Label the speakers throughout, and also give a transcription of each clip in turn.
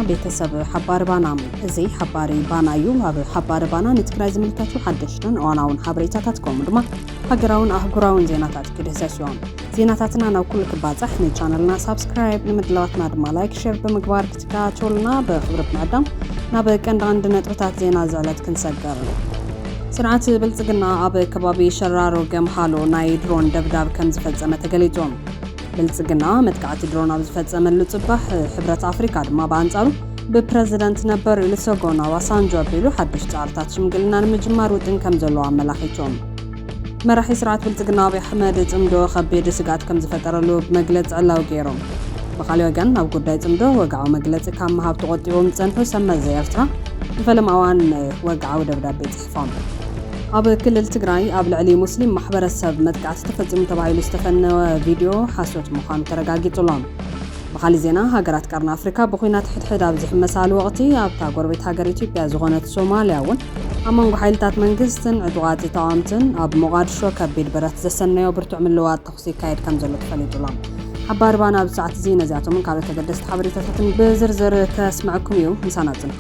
Speaker 1: ቤተሰብ ሓባሪ ባና እዚ ሓባሪ ባና እዩ ኣብ ሓባሪ ባና ንትግራይ ዝምልከቱ ሓደሽትን እዋናውን ሓበሬታታት ከምኡ ድማ ሃገራውን ኣህጉራውን ዜናታት ክድህሰስ እዮም ዜናታትና ናብ ኩሉ ክባፃሕ ንቻነልና ሳብስክራይብ ንምድላዋትና ድማ ላይክ ሸር ብምግባር ተኸታተሉና ብኽብሪ ብምዕዳም ናብ ቀንዲ ቀንዲ ነጥብታት ዜና እዚ ዕለት ክንሰገር ስርዓት ብልጽግና ኣብ ከባቢ ሸራሮ ገምሃሎ ናይ ድሮን ደብዳብ ከም ዝፈጸመ ተገሊጹ። ብልጽግና መጥቃዕቲ ድሮን ኣብ ዝፈጸመሉ ጽባሕ ሕብረት ኣፍሪካ ድማ ብኣንጻሩ ብፕረዚደንት ነበር ኦሉሰጎን ኣባሳንጆ ኣቢሉ ሓድሽ ጻዕርታት ሽምግልና ንምጅማር ውጥን ከም ዘለዎ ኣመላኺቶም። መራሒ ስርዓት ብልፅግና ኣብይ ኣሕመድ ፅምዶ ከቢድ ስግኣት ከምዝፈጠረሉ ብመግለፂ ዕላዊ ገይሮም። ብኻሊእ ወገን ኣብ ጉዳይ ፅምዶ ወግዓዊ መግለፂ ካብ ምሃብ ተቖጢቦም ዝፀንሑ ሰብ መዚ ኤርትራ ንፈለማ እዋን ወግዓዊ ደብዳቤ ፅሒፎም። ኣብ ክልል ትግራይ ኣብ ልዕሊ ሙስሊም ማሕበረሰብ መጥቃዕቲ ተፈፂሙ ተባሂሉ ዝተፈነወ ቪድዮ ሓሶት ምዃኑ ተረጋጊፁ ኣሎ። ብኻሊእ ዜና ሃገራት ቀርኒ ኣፍሪካ ብኹናት ሕድሕድ ኣብ ዝሕመሳሉ ወቕቲ ኣብታ ጎረቤት ሃገር ኢትዮጵያ ዝኾነት ሶማልያ እውን ኣብ መንጎ ሓይልታት መንግስትን ዕጡቓት ተቓወምትን ኣብ ሞቓድሾ ከቢድ ብረት ዘሰነዮ ብርቱዕ ምልውዋጥ ተኹሲ ይካየድ ከምዘሎ ተፈሊጡ ኣሎ። ሓባሪ ባና ኣብዚ ሰዓት እዚ ነዚኣቶምን ካልኦት ኣገደስቲ ሓበሬታታትን ብዝርዝር ከስምዐኩም እዩ። ምሳና ጽንሑ።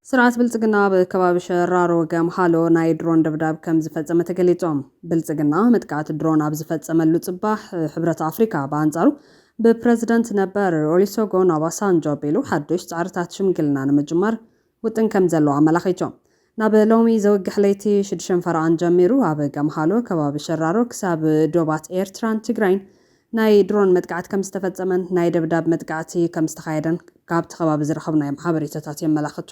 Speaker 1: ስርዓት ብልፅግና ኣብ ከባቢ ሸራሮ ገምሃሎ ናይ ድሮን ደብዳብ ከምዝፈፀመ ተገሊፁ። ብልፅግና መጥቃዕቲ ድሮን ኣብ ዝፈፀመሉ ፅባሕ ሕብረት ኣፍሪካ ብኣንፃሩ ብፕረዚደንት ነበር ኦሊሶጎን ኦባሳንጆ ኣቢሉ ሓዱሽ ፃዕርታት ሽምግልና ንምጅማር ውጥን ከምዘለዎ ኣመላኺቱ። ናብ ሎሚ ዘውግሕ ለይቲ ሽዱሸን ፈረቓን ጀሚሩ ኣብ ገምሃሎ ከባቢ ሸራሮ ክሳብ ዶባት ኤርትራን ትግራይን ናይ ድሮን መጥቃዕቲ ከምዝተፈጸመን ናይ ደብዳብ መጥቃዕቲ ከምዝተኻየደን ካብቲ ከባቢ ዝረኸብናዮም ሓበሬታታት የመላኽቱ።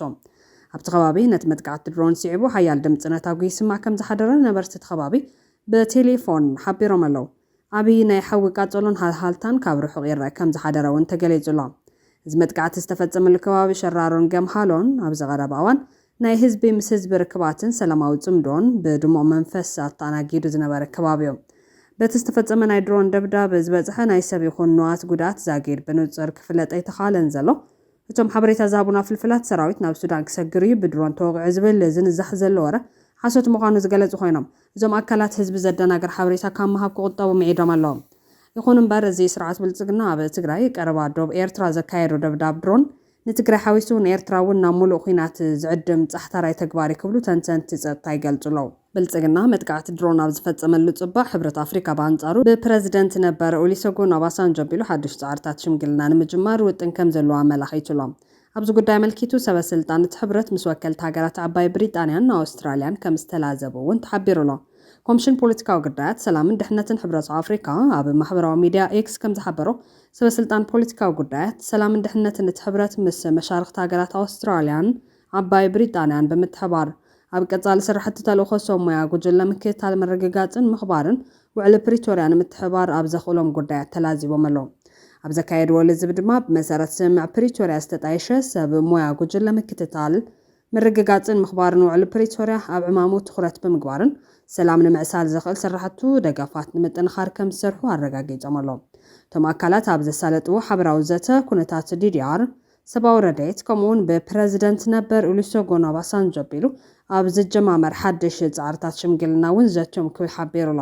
Speaker 1: ኣብቲ ከባቢ ነቲ መጥቃዕቲ ድሮን ስዒቡ ሓያል ድምጺ ነታጒ ይስማዕ ከምዝሓደረ ነበርቲ እቲ ከባቢ ብቴሌፎን ሓቢሮም ኣለዉ። ዓቢ ናይ ሓዊ ቃጸሎን ሃልሃልታን ካብ ርሑቕ ይረኣ ከምዝሓደረ እውን ተገሊጹ ኣሎ። እዚ መጥቃዕቲ ዝተፈጸመሉ ከባቢ ሸራሮን ገምሃሎን ኣብዚ ቀረባ እዋን ናይ ህዝቢ ምስ ህዝቢ ርክባትን ሰላማዊ ጽምዶን ብድሙቕ መንፈስ ኣተኣናጊዱ ዝነበረ ከባቢዮ። በቲ ዝተፈጸመ ናይ ድሮን ደብዳብ ዝበጽሐ ናይ ሰብ ይኹን ንዋት ጉድኣት ዛጊድ ብንጹር ክፍለጥ ኣይተኻእለን ዘሎ። እቶም ሓበሬታ ዝሃቡና ፍልፍላት፣ ሰራዊት ናብ ሱዳን ክሰግርዩ ብድሮን ተወቒዑ ዝብል ዝንዛሕ ዘሎ ወረ ሓሶት ምዃኑ ዝገለጹ ኮይኖም፣ እዞም ኣካላት ህዝቢ ዘደናግር ሓበሬታ ካብ ምሃብ ክቑጠቡ ምዒዶም ኣለዉ። ይኹንምበር እዚ ስርዓት ብልጽግና ኣብ ትግራይ ቀረባ ዶብ ኤርትራ ዘካየዶ ደብዳብ ድሮን ንትግራይ ሓዊሱ ንኤርትራ እውን ናብ ሙሉእ ኹናት ዝዕድም ፃሕታራይ ተግባር እዩ ክብሉ ተንተንቲ ፀጥታ ይገልፁ ኣለው። ብልፅግና መጥቃዕቲ ድሮን ኣብ ዝፈፀመሉ ፅባሕ ሕብረት ኣፍሪካ ብኣንፃሩ ብፕረዚደንት ነበር ኦሊሰጉን ኦባሳንጆ ኣቢሉ ሓዱሽ ፃዕርታት ሽምግልና ንምጅማር ውጥን ከምዘለዎ ኣመላኺቱ ኣሎ። ኣብዚ ጉዳይ ኣመልኪቱ ሰበ ስልጣን እቲ ሕብረት ምስ ወከልቲ ሃገራት ዓባይ ብሪጣንያን ኣውስትራልያን ከምዝተላዘቡ እውን ተሓቢሩ ኣሎ። ኮምሽን ፖለቲካዊ ግዳያት፣ ሰላምን ድሕነትን ሕብረት ኣፍሪካ ኣብ ማሕበራዊ ሚዲያ ኤክስ ከምዝሓበሮ፣ ሰበስልጣን ፖለቲካዊ ጉዳያት፣ ሰላምን ድሕነትን እቲ ሕብረት ምስ መሻርኽቲ ሃገራት ኣውስትራልያን ዓባይ ብሪጣንያን ብምትሕባር፣ ኣብ ቀጻሊ ስራሕቲ ተልእኾ ሰብ ሞያ ጉጅለ ምክትታል ምርግጋጽን ምኽባርን ውዕሊ ፕሪቶርያ ንምትሕብባር ኣብ ዘኽእሎም ጉዳያት ተላዚቦም ኣለው ኣብ ዘካየድዎ ልዝብ ድማ ብመሰረት ስምምዕ ፕሪቶርያ ዝተጣየሸ ሰብ ሞያ ጉጅለ ምክትታል ምርግጋፅን ምኽባርን ውዕሊ ፕሪቶርያ ኣብ ዕማሙ ትኹረት ብምግባርን ሰላም ንምዕሳል ዘኽእል ስራሕቱ ደገፋት ንምጥንኻር ከምዝሰርሑ ኣረጋጊፆም ኣለው። እቶም ኣካላት ኣብ ዘሳለጥዎ ሓበራዊ ዘተ ኩነታት ዲዲኣር፣ ሰብኣዊ ረድኤት ከምኡ እውን ብፕረዚደንት ነበር ኡሉሰጎን ኦባሳንጆ ኣቢሉ ኣብ ዝጀማመር ሓድሽ ፃዕርታት ሽምግልና እውን ዘትዮም ክብል ሓቢሩ ኣሎ።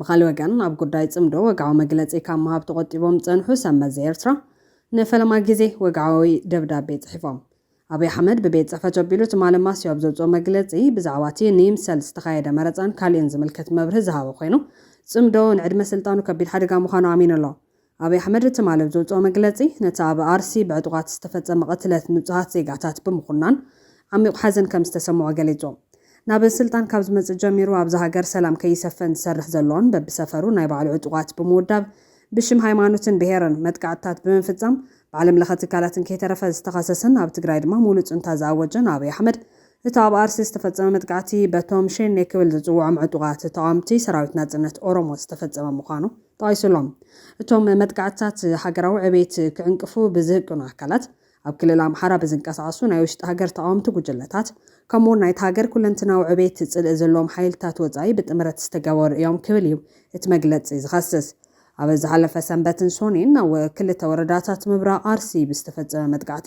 Speaker 1: ብኻልእ ወገን ኣብ ጉዳይ ጽምዶ ወግዓዊ መግለጺ ካብ ምሃብ ተቖጢቦም ዝጸንሑ ሰብ መዚ ኤርትራ ንፈለማ ግዜ ወግዓዊ ደብዳቤ ጽሒፎም። ኣብይ ኣሕመድ ብቤት ጽሕፈቱ ኣቢሉ ትማሊ ማስዮ ኣብ ዘውጽኦ መግለጺ ብዛዕባ'ቲ ንይምሰል ዝተኻየደ መረጻን ካልእን ዝምልከት መብርሂ ዝሃበ ኮይኑ ጽምዶ ንዕድመ ስልጣኑ ከቢድ ሓደጋ ምዃኑ ኣሚኑ ኣሎ። ኣብይ ኣሕመድ ትማሊ ኣብ ዘውጽኦ መግለጺ፣ ነቲ ኣብ ኣርሲ ብዕጡቓት ዝተፈጸመ ቅትለት ንጹሃት ዜጋታት ብምኹናን፣ ዓሚቝ ሓዘን ከም ዝተሰምዖ ገሊጹ። ናብ ስልጣን ካብ ዝመጽእ ጀሚሩ ኣብዛ ሃገር ሰላም ከይሰፈን ዝሰርሕ ዘሎን በብሰፈሩ ናይ ባዕሉ ዕጡቓት ብምውዳብ ብሽም ሃይማኖትን ብሄርን መጥቃዕትታት ብምፍጻም ብዓለምለኸ ትካላትን ከይተረፈ ዝተኸሰሰን ኣብ ትግራይ ድማ ሙሉእ ጹንታ ዝኣወጀን ኣብይ ኣሕመድ እቲ ኣብ ኣርሲ ዝተፈጸመ መጥቃዕቲ በቶም ሸኔ ክብል ዝጽውዖም ዕጡቓት ተቓወምቲ ሰራዊት ናጽነት ኦሮሞ ዝተፈጸመ ምዃኑ ጠቒሱ ኣሎ። እቶም መጥቃዕትታት ሃገራዊ ዕቤት ክዕንቅፉ ብዝህቅኑ ኣካላት፣ ኣብ ክልል ኣምሓራ ብዝንቀሳቐሱ ናይ ውሽጢ ሃገር ተቓወምቲ ጉጅለታት፣ ከምኡ'ውን ናይቲ ሃገር ኩለንትናዊ ዕቤት ጽልኢ ዘለዎም ሓይልታት ወጻኢ ብጥምረት ዝተገበሩ እዮም ክብል እዩ እቲ መግለጺ ዝኸስስ። ኣብ ዝሓለፈ ሰንበትን ሶኒን ኣብ ክልተ ወረዳታት ምብራቕ ኣርሲ ብዝተፈጸመ መጥቃዕቲ፣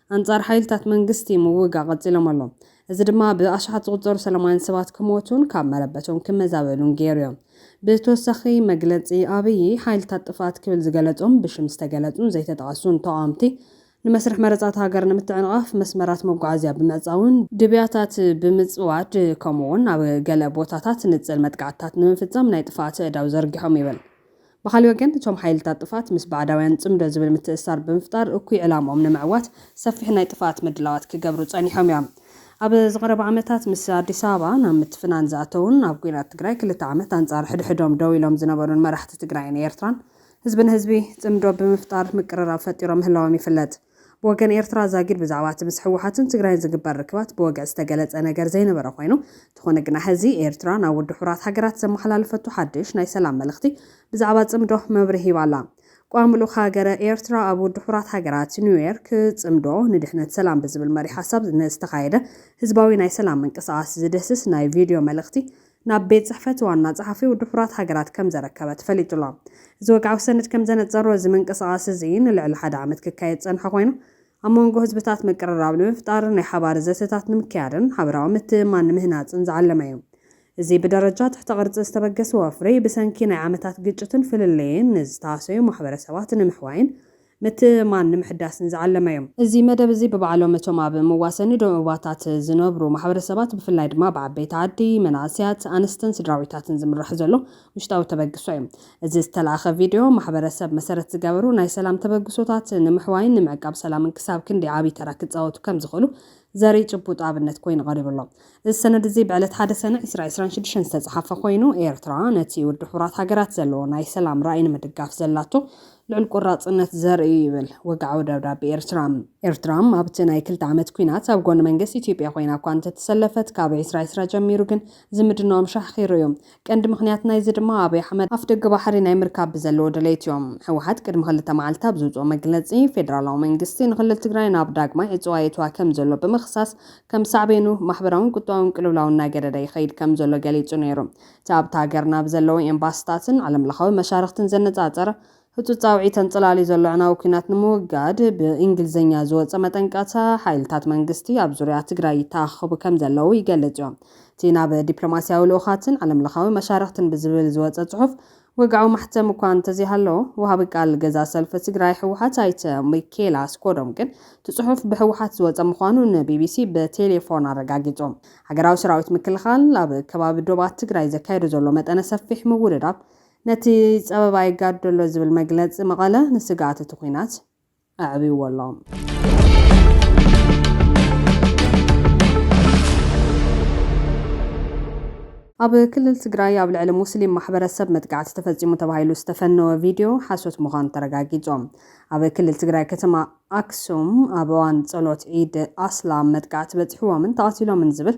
Speaker 1: ኣንጻር ሓይልታት መንግስቲ ምውጋእ ቀጺሎም ኣሎ። እዚ ድማ ብኣሽሓት ዝቑጸሩ ሰላማውያን ሰባት ክሞቱን ካብ መረበቶም ክመዛበሉን ገይሩዮ። ብተወሳኺ መግለጺ ኣብዪ፣ ሓይልታት ጥፍኣት ክብል ዝገለጾም ብሽም ዝተገለጹን ዘይተጠቐሱን ተቓወምቲ፣ ንመስርሕ መረጻ እታ ሃገር ንምትዕንቓፍ መስመራት መጓዓዝያ ብምዕጻውን፣ ድብያታት ብምጽዋድ ከምኡ'ውን ኣብ ገለ ቦታታት ንጽል መጥቃዕትታት ንምፍጻም ናይ ጥፍኣት ኣእዳው ዘርጊሖም ይብል። ብኻልእ ወገን እቶም ሓይልታት ጥፍኣት ምስ ባዕዳውያን ጽምዶ ዝብል ምትእስሳር ብምፍጣር እኩይ ዕላምኦም ንምዕዋት ሰፊሕ ናይ ጥፍኣት ምድላዋት ክገብሩ ጸኒሖም እዮም። ኣብ ዝቐረባ ዓመታት ምስ ኣዲስ ኣበባ ናብ ምትፍናን ዝኣተዉን ኣብ ኲናት ትግራይ ክልተ ዓመት ኣንጻር ሕድሕዶም ደው ኢሎም ዝነበሩን መራሕቲ ትግራይን ኤርትራን ህዝቢ ንህዝቢ ጽምዶ ብምፍጣር ምቅርራብ ፈጢሮም ምህላዎም ይፍለጥ። ብወገን ኤርትራ ዛጊድ ብዛዕባ እቲ ምስ ህወሓትን ትግራይን ዝግበር ርክባት ብወግዒ ዝተገለጸ ነገር ዘይነበረ ኮይኑ፣ እንተኾነ ግና ሕዚ ኤርትራ ናብ ውድብ ሕቡራት ሃገራት ዘመሓላለፈቶ ሓድሽ ናይ ሰላም መልእኽቲ ብዛዕባ ጽምዶ መብርሂ ሂባ ኣላ። ቋሚ ልኡኽ ሃገረ ኤርትራ ኣብ ውድብ ሕቡራት ሃገራት ኒውዮርክ፣ ጽምዶ ንድሕነት ሰላም ብዝብል መሪሕ ሓሳብ ንዝተኻየደ ህዝባዊ ናይ ሰላም ምንቅስቓስ ዝድህስስ ናይ ቪድዮ መልእኽቲ ናብ ቤት ጽሕፈት ዋና ጸሓፊ ውድብ ሕቡራት ሃገራት ከም ዘረከበ ተፈሊጡ ኣሎ። እዚ ወግዓዊ ሰነድ ከም ዘነጸሮ፣ እዚ ምንቅስቓስ እዚ ንልዕሊ ሓደ ዓመት ክካየድ ዝጸንሐ ኮይኑ፣ ኣብ መንጎ ህዝብታት ምቅርራብ ንምፍጣር፣ ናይ ሓባር ዘተታት ንምክያድን ሓበራዊ ምትእምማን ንምህናጽን ዝዓለመ እዩ። እዚ ብደረጃ ትሕተ ቅርጺ ዝተበገሰ ወፍሪ፣ ብሰንኪ ናይ ዓመታት ግጭትን ፍልልይን ንዝተሃሰዩ ማሕበረሰባት ንምሕዋይን ምትእምማን ንምሕዳስን ዝዓለመ እዩ። እዚ መደብ እዚ ብባዕሎም እቶም ኣብ መዋሰኒ ዶባታት ዝነብሩ ማሕበረሰባት ብፍላይ ድማ ብዓበይቲ ዓዲ፣ መናእሰያት፣ ኣንስትን ስድራቤታትን ዝምራሕ ዘሎ ውሽጣዊ ተበግሶ እዩ። እዚ ዝተላእከ ቪድዮ ማሕበረሰብ መሰረት ዝገበሩ ናይ ሰላም ተበግሶታት ንምሕዋይን ንምዕቃብ ሰላምን ክሳብ ክንደይ ዓብይ ተራ ክፃወቱ ከምዝኽእሉ ዘርኢ ጭቡጥ ኣብነት ኮይኑ ቀሪቡ ኣሎ። እዚ ሰነድ እዚ ብዕለት ሓደ ሰነ ዕስራ ዕስራን ሽዱሽተን ዝተጽሓፈ ኮይኑ፣ ኤርትራ ነቲ ውድብ ሕቡራት ሃገራት ዘለዎ ናይ ሰላም ራኢ ንምድጋፍ ዘላቶ ልዑል ቆራጽነት ዘርኢ እዩ ይብል ወግዓዊ ደብዳቤ ኤርትራ። ኤርትራ ኣብቲ ናይ ክልተ ዓመት ኲናት ኣብ ጎኒ መንግስቲ ኢትዮጵያ ኮይና እኳ እንተተሰለፈት፣ ካብ ዕስራ ዕስራ ጀሚሩ ግን እዚ ምድናዎም ሻሕ ኺሩ እዩ። ቀንዲ ምኽንያት ናይዚ ድማ ኣብይ ኣሕመድ ኣፍደገ ባሕሪ ናይ ምርካብ ብዘለዎ ድሌት እዩ። ህወሓት ቅድሚ ክልተ መዓልቲ ኣብ ዘውፅኦ መግለፂ ፌደራላዊ መንግስቲ ንክልል ትግራይ ናብ ዳግማይ ዕፅዋ የእትዋ ከም ዘሎ ብምኽሳስ ከም ሳዕቤኑ ማሕበራውን ቁጠባውን ቅልውላው እናገደደ ይኸይድ ከም ዘሎ ገሊፁ ነይሩ። እቲ ኣብታ ሃገር ናብ ዘለዉ ኤምባሲታትን ዓለምለኻዊ መሻርኽትን ዘነፃፀረ ህጹጽ ጻውዒት ኣንጸላልዩ ዘሎ ኣዕናዊ ኲናት ንምውጋድ ብእንግሊዝኛ ዝወጸ መጠንቀቕታ፣ ሓይልታት መንግስቲ ኣብ ዙርያ ትግራይ ይተኣኻኸቡ ከም ዘለዉ ይገልጽዮ። እቲ ናብ ዲፕሎማስያዊ ልኡኻትን ዓለምለኻዊ መሻርኽትን ብዝብል ዝወጸ ጽሑፍ ወግዓዊ ማሕተም እኳ እንተዘይሃለዎ፣ ወሃቢ ቃል ገዛእ ሰልፊ ትግራይ ህወሓት ኣይተ ሚኪኤል ኣስጎዶም ግን እቲ ጽሑፍ ብህወሓት ዝወጸ ምዃኑ ንቢቢሲ ብቴሌፎን ኣረጋጊጹ። ሃገራዊ ሰራዊት ምክልኻል ኣብ ከባቢ ዶባት ትግራይ ዘካይዶ ዘሎ መጠነ ሰፊሕ ምውድዳብ፣ ነቲ ጸበባ ይጋዶ ኣሎ ዝብል መግለጺ መቐለ ንስግኣት እቲ ኲናት ኣዕብይዎ ኣሎ። ኣብ ክልል ትግራይ ኣብ ልዕሊ ሙስሊም ማሕበረሰብ መጥቃዕቲ ተፈፂሙ ተባሂሉ ዝተፈነወ ቪድዮ ሓሶት ምዃኑ ተረጋጊፁ። ኣብ ክልል ትግራይ ከተማ ኣክሱም ኣብ እዋን ጸሎት ዒድ ኣስላም መጥቃዕቲ በፂሕዎምን ተቐቲሎምን ዝብል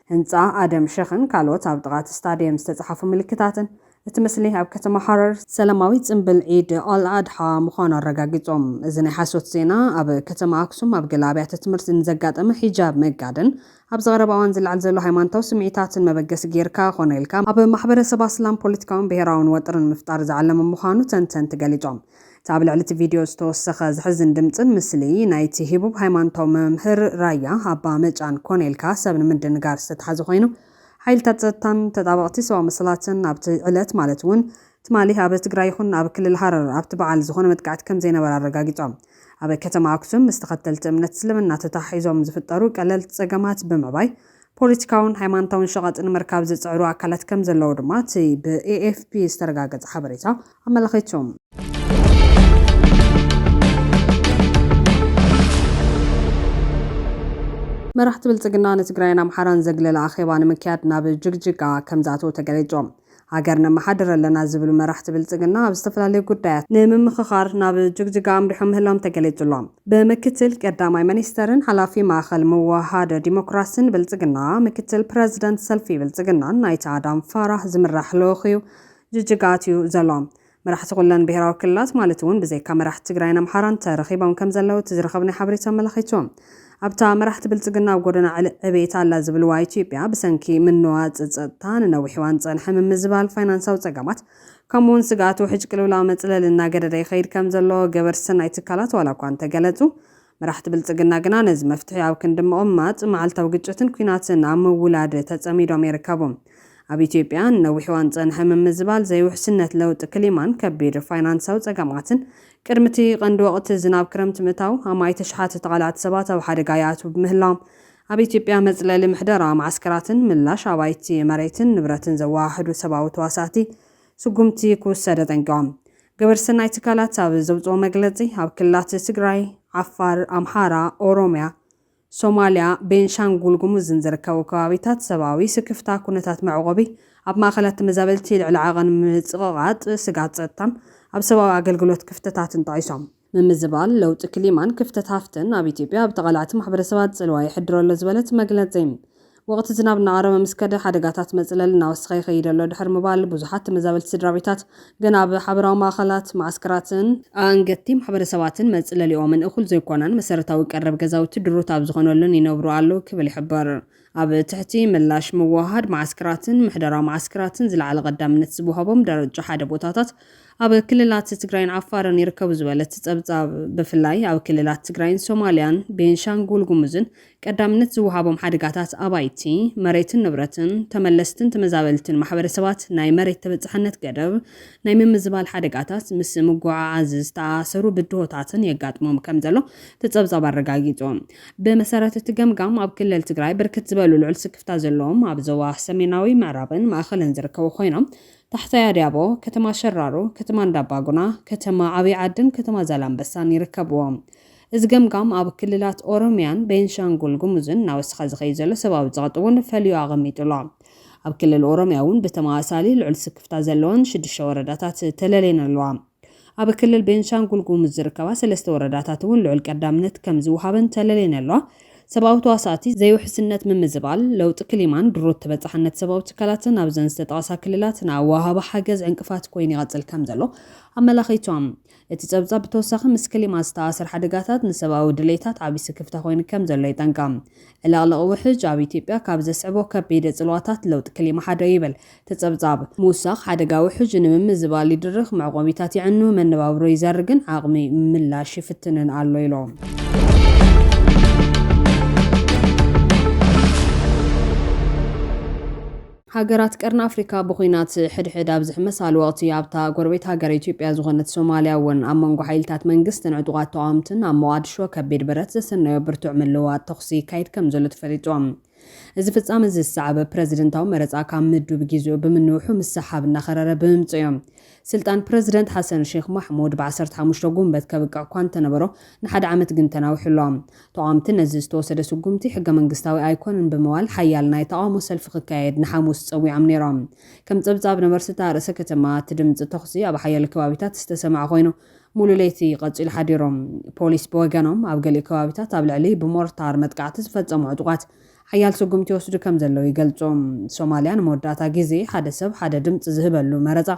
Speaker 1: ህንጻ ኣደም ሸኽን ካልኦት ኣብ ጥቓ እቲ ስታድየም ዝተጻሓፉ ምልክታትን፣ እቲ ምስሊ ኣብ ከተማ ሃረር፣ ሰላማዊ ጽምብል ዒድ ኣል ኣድሓ ምዃኑ ኣረጋጊጾም። እዚ ናይ ሓሶት ዜና፣ ኣብ ከተማ ኣክሱም ኣብ ገለ ኣብያተ ትምህርቲ ንዘጋጠመ ሒጃብ ምግጋድን ኣብዚ ቀረባ እዋን ዝለዓል ዘሎ ሃይማኖታዊ ስምዒታትን መበገሲ ገይርካ ኮነ ኢልካ ኣብ ማሕበረሰብ ኣስላም ፖለቲካውን ብሄራውን ወጥሪ ንምፍጣር ዝዓለመ ምዃኑ ተንተንቲ ገሊጾም። እቲ ኣብ ልዕሊ'ቲ ቪድዮ ዝተወሰኸ ዘሕዝን ድምጽን ምስሊ ናይቲ ህቡብ ሃይማኖታዊ መምህር ራያ ኣባ መጫን ኮነ ኢልካ ሰብ ንምድንጋር ዝተታሕዘ ኮይኑ፣ ሓይልታት ጸጥታን ተጣበቕቲ ሰብኣዊ መሰላትን ኣብቲ ዕለት ማለት እውን ትማሊ ኣብ ትግራይ ይኹን ኣብ ክልል ሃረር ኣብቲ በዓል ዝኾነ መጥቃዕቲ ከምዘይነበረ ኣረጋጊጾም። ኣብ ከተማ ኣክሱም ምስ ተኸተልቲ እምነት እስልምና ተተሓሒዞም ዝፍጠሩ ቀለልቲ ጸገማት ብምዕባይ፣ ፖለቲካውን ሃይማኖታውን ሸቐጥ ንምርካብ ዝጽዕሩ ኣካላት ከም ዘለዉ ድማ እቲ ብኤኤፍፒ ዝተረጋገጸ ሓበሬታ ኣመላኺቱ። መራሕቲ ብልፅግና ንትግራይን ኣምሓራን ዘግለለ ኣኼባ ንምክያድ ናብ ጅግጅጋ ከምዝኣተው ተገሊፁ። ሃገር ነመሓድር ኣለና ዝብሉ መራሕቲ ብልፅግና ኣብ ዝተፈላለዩ ጉዳያት ንምምኽኻር ናብ ጅግጅጋ ኣምሪሖም ምህላዎም ተገሊፁ'ሎ። ብምክትል ቀዳማይ ሚኒስተርን ሓላፊ ማእኸል ምውህሃድ ዲሞክራሲን ብልፅግና ምክትል ፕረዚደንት ሰልፊ ብልፅግናን ኣይተ ኣዳም ፋራህ ዝምራሕ ልኡኽ'ዩ ጅጅጋ ኣትዩ ዘሎ። መራሕቲ ኩለን ብሄራዊ ክልላት ማለት እውን ብዘይካ መራሕቲ ትግራይን ኣምሓራን ተረኺቦም ከምዘለዉ እቲ ዝረኸብናዮ ሓበሬታ ኣመላኺቱ። ኣብታ መራሕቲ ብልፅግና ኣብ ጎደና ዕብየት ኣላ ዝብልዋ ኢትዮጵያ ብሰንኪ ምንዋፅ ፀጥታ ንነዊሕ እዋን ዝፀንሐ ምምዝባል ፋይናንሳዊ ፀገማት ከምኡ እውን ስግኣት ውሕጅ ቅልውላው መፅለሊ እናገደደ ይኸይድ ከምዘሎ ገበርቲ ሰናይ ትካላት ዋላ እኳ እንተገለፁ መራሕቲ ብልጽግና ግና ነዚ መፍትሒ ኣብ ክንዲ ምቕማጥ፣ መዓልታዊ ግጭትን ኲናትን ኣብ ምውላድ ተጸሚዶም ይርከቡ። ኣብ ኢትዮጵያ ንነዊሕ እዋን ዝጸንሐ ምምዝባል ዘይውሕስነት፣ ለውጢ ክሊማን ከቢድ ፋይናንሳዊ ጸገማትን፣ ቅድሚ'ቲ ቀንዲ ወቕቲ ዝናብ ክረምቲ ምእታዉ፣ ኣማኢት ኣሽሓት ተቓላዕቲ ሰባት ኣብ ሓደጋ ይኣትዉ ብምህላዎም፣ ኣብ ኢትዮጵያ መጽለሊ ምሕደራ መዓስከራትን ምላሽ ኣባይቲ መሬትን ንብረትን ዘወሃህዱ ሰብኣዊ ተዋሳእቲ፣ ስጉምቲ ክውሰድ ኣጠንቂቖም። ግብረ ሰናይ ትካላት ኣብ ዘውፅኦ መግለፂ፣ ኣብ ክልላት ትግራይ፣ ዓፋር፣ ኣምሓራ፣ ኦሮሚያ፣ ሶማሊያ፣ ቤንሻንጉል ጉሙዝን ዝርከቡ ከባቢታት ሰብኣዊ ስክፍታ ኩነታት መዕቖቢ ኣብ ማእኸላት ተመዛበልቲ ልዕሊ ዓቐን ምፅቕቓጥ ስግኣት ፀጥታን ኣብ ሰብኣዊ ኣገልግሎት ክፍተታትን ጠቒሶም። ምምዝባል ለውጢ ክሊማን ክፍተት ሃፍትን ኣብ ኢትዮጵያ ኣብ ተቓላዕቲ ማሕበረሰባት ፅልዋ የሕድር ኣሎ ዝበለት መግለፂ፣ ወቕቲ ዝናብ እናቐረበ ምስ ከደ ሓደጋታት መፅለሊ እናወሰኸ ይኸይድ ኣሎ ድሕሪ ምባል ብዙሓት ተመዛበልቲ ስድራቤታት ገና ኣብ ሓበራዊ ማእኸላት፣ መዓስከራትን፣ ኣኣንገድቲ ማሕበረሰባትን መፅለሊኦምን እኹል ዘይኮነን መሰረታዊ ቀረብ ገዛውቲ ድሩት ኣብ ዝኾነሉን ይነብሩ ኣለዉ ክብል ይሕብር። ኣብ ትሕቲ ምላሽ ምውህሃድ መዓስከራትን ምሕደራ መዓስከራትን ዝለዓለ ቀዳምነት ዝወሃቦም ደረጃ ሓደ ቦታታት ኣብ ክልላት ትግራይን ዓፋርን ይርከቡ ዝበለ እቲ ፀብፃብ፣ ብፍላይ ኣብ ክልላት ትግራይን ሶማሊያን ቤንሻንጉል ጉሙዝን ቀዳምነት ዝወሃቦም ሓደጋታት ኣባይቲ፣ መሬትን ንብረትን፣ ተመለስትን ተመዛበልትን ማሕበረሰባት ናይ መሬት ተበፃሕነት ገደብ ናይ ምምዝባል ሓደጋታት ምስ ምጉዕዓዝ ዝተኣኣሰሩ ብድሆታትን የጋጥሞም ከምዘሎ እቲ ፀብፃብ ኣረጋጊፁ። ብመሰረት እቲ ገምጋም ኣብ ክልል ትግራይ ብርክት ዝበሉ ልዑል ስክፍታ ዘለዎም ኣብ ዞባ ሰሜናዊ ምዕራብን ማእኸልን ዝርከቡ ኾይኖም ታሕታይ ኣድያቦ፣ ከተማ ሸራሮ፣ ከተማ እንዳባጉና፣ ከተማ ዓብይ ዓድን ከተማ ዛላምበሳን ይርከብዎም። እዚ ገምጋም ኣብ ክልላት ኦሮሚያን ቤንሻንጉል ጉሙዝን እናወሰኸ ዝኸይድ ዘሎ ሰብኣዊ ፀቕጢ እውን ፈልዩ ኣቐሚጡ ኣሎ። ኣብ ክልል ኦሮሚያ እውን ብተመሳሳሊ ልዑል ስክፍታ ዘለወን ሽዱሽተ ወረዳታት ተለልየን ኣለዋ። ኣብ ክልል ቤንሻንጉል ጉሙዝ ዝርከባ ሰለስተ ወረዳታት እውን ልዑል ቀዳምነት ከም ዝወሃበን ተለልየን ኣለዋ። ሰብኣዊ ተዋሳእቲ፣ ዘይውሕስነት ምምዝባል፣ ለውጢ ክሊማን ድሩት ተበፃሕነት ሰብኣዊ ትካላትን ኣብዘን ዝተጠቐሳ ክልላት ንኣወሃህባ ሓገዝ ዕንቅፋት ኮይኑ ይቐፅል ከም ዘሎ ኣመላኺቶም። እቲ ፀብፃብ ብተወሳኺ ምስ ክሊማ ዝተኣኣሰር ሓደጋታት ንሰብኣዊ ድሌታት ዓብዪ ስክፍታ ኮይኑ ከም ዘሎ የጠንቅቕ። ዕልቕልቕ ውሕጅ ኣብ ኢትዮጵያ ካብ ዘስዕቦ ከቢድ ፅልዋታት ለውጢ ክሊማ ሓደ እዩ ይብል ተጸብጻብ፣ ምውሳኽ ሓደጋ ውሕጅ ንምምዝባል ይድርኽ፣ መዕቆቢታት የዕኑ፣ መነባብሮ ይዘርግን ዓቕሚ ምላሽ ይፍትንን ኣሎ ኢሎም። ሃገራት ቀርኒ ኣፍሪካ ብኩናት ሕድሕድ ኣብ ዝሕመሳሉ ወቅቲ ኣብታ ጎረቤት ሃገር ኢትዮጵያ ዝኾነት ሶማሊያ እውን ኣብ መንጎ ሓይልታት መንግስትን ዕጡቃት ተቃወምትን ኣብ ሞቃድሾ ከቢድ ብረት ዘሰነዮ ብርቱዕ ምልውዋጥ ተኹሲ ይካየድ ከምዘሎ ተፈሊጡ። እዚ ፍጻመ እዚ ዝሰዓበ ፕረዚደንታዊ መረጻ ካብ ምዱብ ጊዚኡ ብምንውሑ ምስ ሰሓብ እናኸረረ ብምምጽኡ እዩ። ስልጣን ፕረዚደንት ሓሰን ሼኽ ማሕሙድ ብ ዓሰርተ ሓሙሽተ ጉንበት ከብቅዕ እኳ እንተነበሮ ንሓደ ዓመት ግን ተናዊሑ ኣሎ። ተቓወምቲ ነዚ ዝተወሰደ ስጉምቲ ሕገ መንግስታዊ ኣይኮነን ብምባል ሓያል ናይ ተቓውሞ ሰልፊ ክካየድ ንሓሙስ ጸዊዖም ነይሮም። ከም ጸብጻብ ነበርቲ እታ ርእሰ ከተማ እቲ ድምጺ ተኹሲ ኣብ ሓያለ ከባቢታት ዝተሰምዐ ኮይኑ፣ ሙሉእ ለይቲ ቀፂሉ ሓዲሩ። ፖሊስ ብወገኖም ኣብ ገሊኡ ከባቢታት ኣብ ልዕሊ ብሞርታር መጥቃዕቲ ዝፈፀሙ ዕጡቓት ሓያል ስጉምቲ ይወስዱ ከምዘለው ይገልፁ። ሶማሊያ ንመወዳእታ ጊዜ ሓደ ሰብ ሓደ ድምፂ ዝህበሉ መረፃ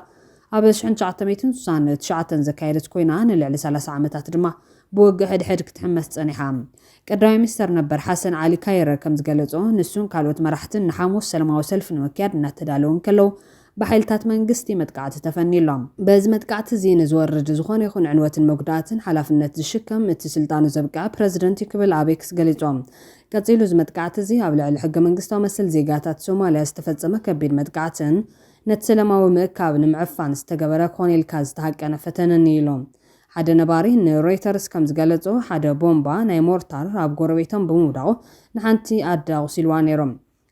Speaker 1: ኣብ ሽሕን ትሽዓተ ሚእትን ስሳን ትሽዓተን ዘካየደት ኮይና ንልዕሊ ሰላሳ ዓመታት ድማ ብውግእ ሕድሕድ ክትሕመስ ፀኒሓ። ቀዳማይ ሚኒስተር ነበር ሓሰን ዓሊ ካይረ ከምዝገለፆ ንሱን ካልኦት መራሕትን ንሓሙስ ሰለማዊ ሰልፊ ንምክያድ እናተዳለው እንከለው ብሓይልታት መንግስቲ መጥቃዕቲ ተፈንዩሎም። በዚ መጥቃዕቲ'ዚ ንዝወርድ ዝኾነ ይኹን ዕንወትን መጉዳእትን ሓላፍነት ዝሽከም እቲ ስልጣኑ ዘብቅዐ ፕረዚደንት'ዩ ክብል ኣብ ኤክስ ገሊጹ። ቀጺሉ እዚ መጥቃዕቲ'ዚ ኣብ ልዕሊ ሕገ-መንግስታዊ መሰል ዜጋታት ሶማልያ ዝተፈጸመ ከቢድ መጥቃዕትን ነቲ ሰለማዊ ምእካብ ንምዕፋን ዝተገበረ ኮነ ኢልካ ዝተሃቀነ ፈተነን'ዩ ኢሉ። ሓደ ነባሪ ንሮይተርስ ከም ዝገለጾ ሓደ ቦምባ ናይ ሞርታር ኣብ ጎረቤቶም ብምውዳቑ ንሓንቲ ኣደ ኣቑሲሉዋ ነይሩ።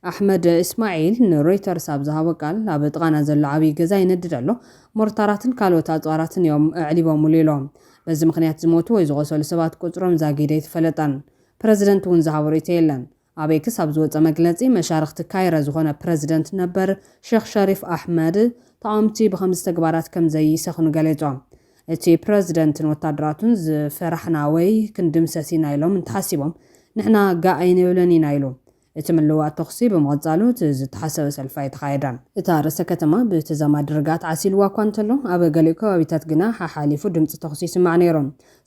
Speaker 1: ኣሕመድ እስማዒል ንሮይተርስ ኣብ ዝሃቦ ቃል፣ ኣብ ጥቓና ዘሎ ዓብዪ ገዛ ይነድድ ኣሎ፣ ሞርታራትን ካልኦት ኣጽዋራትን እዮም ኣዕሊቦምሉ ኢሉ። በዚ ምኽንያት ዝሞቱ ወይ ዝቖሰሉ ሰባት ቁጽሮም ዛጊድ ኣይተፈለጠን። ፕረዚደንት እውን ዝሃቦ ርእይቶ የለን። ኣብ ኤክስ ኣብ ዝወጸ መግለጺ፣ መሻርኽቲ ካይረ ዝኾነ ፕረዚደንት ነበር ሼኽ ሸሪፍ ኣሕመድ፣ ተቓወምቲ ብኸምዚ ተግባራት ከም ዘይሰኽኑ ገሊጹ። እቲ ፕረዚደንትን ወታደራቱን ዝፈራሕና ወይ ክንድምሰስ ኢና ኢሎም እንተሓሲቦም፣ ንሕና ጋእ ኣይንብልን ኢና ኢሉ። እቲ ምልውዋጥ ተኹሲ ብምቕጻሉ እቲ ዝተሓሰበ ሰልፊ ኣይተኻየደን። እታ ርእሰ ከተማ ብተዛማዲ ርግኣት ዓሲልዋ እኳ እንተሎ፣ ኣብ ገሊኡ ከባቢታት ግና ሓሓሊፉ ድምጺ ተኹሲ ይስማዕ ነይሩ።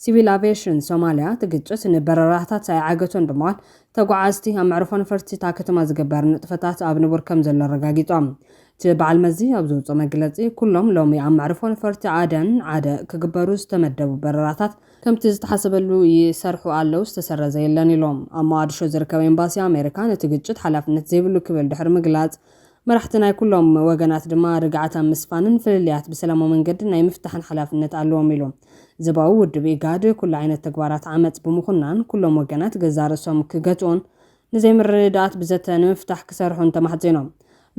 Speaker 1: ሲቪል ኣቭየሽን ሶማልያ፣ እቲ ግጭት ንበረራታት ኣይዓገቶን ብምባል፣ ተጓዓዝቲ ኣብ መዕርፎ ነፈርቲ እታ ከተማ ዝግበር ንጥፈታት ኣብ ንቡር ከምዘሎ ኣረጋጊጾም። እቲ በዓል መዚ ኣብ ዘውጽኦ መግለጺ፣ ኩሎም ሎሚ ኣብ መዕርፎ ነፈርቲ ዓደን ዓደ ክግበሩ ዝተመደቡ በረራታት፣ ከምቲ ዝተሓሰበሉ ይሰርሑ ኣለው፣ ዝተሰረዘ የለን ኢሎም። ኣብ ሞቓድሾ ዝርከብ ኤምባሲ ኣሜሪካ ነቲ ግጭት ሓላፍነት ዘይብሉ ክብል ድሕሪ ምግላጽ፣ መራሕቲ ናይ ኩሎም ወገናት ድማ ርግኣት ኣብ ምስፋንን ፍልልያት ብሰላማዊ መንገዲ ናይ ምፍታሕን ሓላፍነት ኣለዎም ኢሉ። ዞባዊ ውድብ ኢጋድ ኩሉ ዓይነት ተግባራት ዓመጽ ብምኹናን ኩሎም ወገናት ገዛእ ርእሶም ክገትኡን ንዘይምርድዳኣት ብዘተ ንምፍታሕ ክሰርሑን ተማሕጺኖም።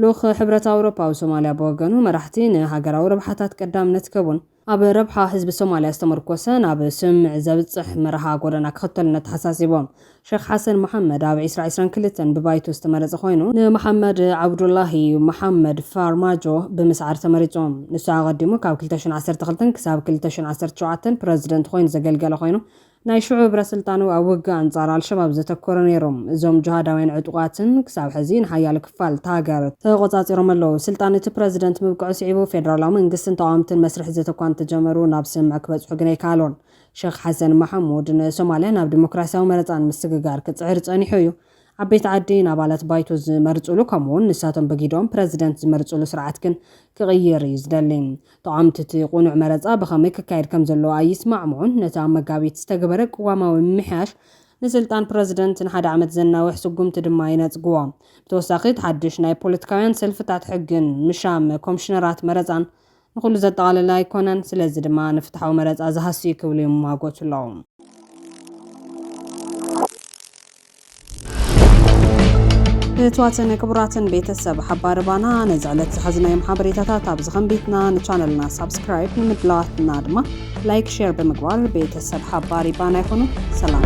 Speaker 1: ልኡኽ ሕብረት ኣውሮፓ ኣብ ሶማልያ ብወገኑ መራሕቲ ንሃገራዊ ረብሓታት ቀዳምነት ክህቡን ኣብ ረብሓ ህዝቢ ሶማልያ ዝተመርኮሰ ናብ ስምምዕ ዘብጽሕ መርሃ ጎደና ክኽተሉን ኣተሓሳሲቦም። ሸኽ ሓሰን መሓመድ ኣብ ዒስራ ዒስራን ክልተን ብባይቶ ዝተመረጸ ኮይኑ፣ ንመሓመድ ዓብዱላሂ መሓመድ ፋርማጆ ብምስዓር ተመሪጹ። ንሱ ኣቐዲሙ ካብ ክልተ ሽሕን ዓሰርተ ክልተን ክሳብ ክልተ ሽሕን ዓሰርተ ሸውዓተን ፕረዚደንት ኮይኑ ዘገልገለ ኮይኑ፣ ናይ ሽዑ ህብረ-ስልጣኑ ኣብ ውግእ ኣንጻር ኣልሸባብ ዘተኮረ ነይሩ። እዞም ጅሃዳውያን ዕጡቓትን ክሳብ ሕዚ ንሓያሎ ክፋል እታ ሃገር ተቖጻጺሮም ኣለዉ። ስልጣን እቲ ፕረዚደንት ምብቅዑ ስዒቡ ፌደራላዊ መንግስትን ተቓወምትን መስርሕ ዘተ እኳ እንተጀመሩ ናብ ስምምዕ ክበጽሑ ግን ኣይከኣሉን። ሸኽ ሓሰን ማሓሙድ ንሶማልያ ናብ ዲሞክራስያዊ መረጻ ንምስግጋር ክጽዕር ጸኒሑ እዩ። ዓበይቲ ዓዲ ንኣባላት ባይቶ ዝመርጹሉ ከምኡ'ውን ንሳቶም ብጊደኦም ፕረዚደንት ዝመርጹሉ ስርዓት ግን ክቕይር እዩ ዝደሊ። ተቓወምቲ እቲ ቅኑዕ መረጻ ብኸመይ ክካየድ ከም ዘለዎ ኣይስማዕምዑን። ነቲ ኣብ መጋቢት ዝተገበረ ቅዋማዊ ምምሕያሽ ንስልጣን ፕረዚደንት ንሓደ ዓመት ዘናውሕ ስጉምቲ ድማ ይነጽግዎ። ብተወሳኺ እቲ ሓድሽ ናይ ፖለቲካውያን ሰልፍታት ሕግን ምሻም ኮምሽነራት መረጻን፣ ንኹሉ ዘጠቓለለ ኣይኮነን፣ ስለዚ ድማ ንፍትሓዊ መረጻ ዝሃስ'ዩ ክብሉ ይሟጎቱ'ለዉ። ፍትዋትን ክቡራትን ቤተሰብ ሓባሪ ባና ነዚ ዕለት ዝሓዝናዮም ሓበሬታታት ኣብዚ ከንቢትና ንቻነልና ሳብስክራይብ ንምድላዋትና ድማ ላይክ ሼር ብምግባር ቤተሰብ ሓባሪ ባና ይኹኑ ሰላም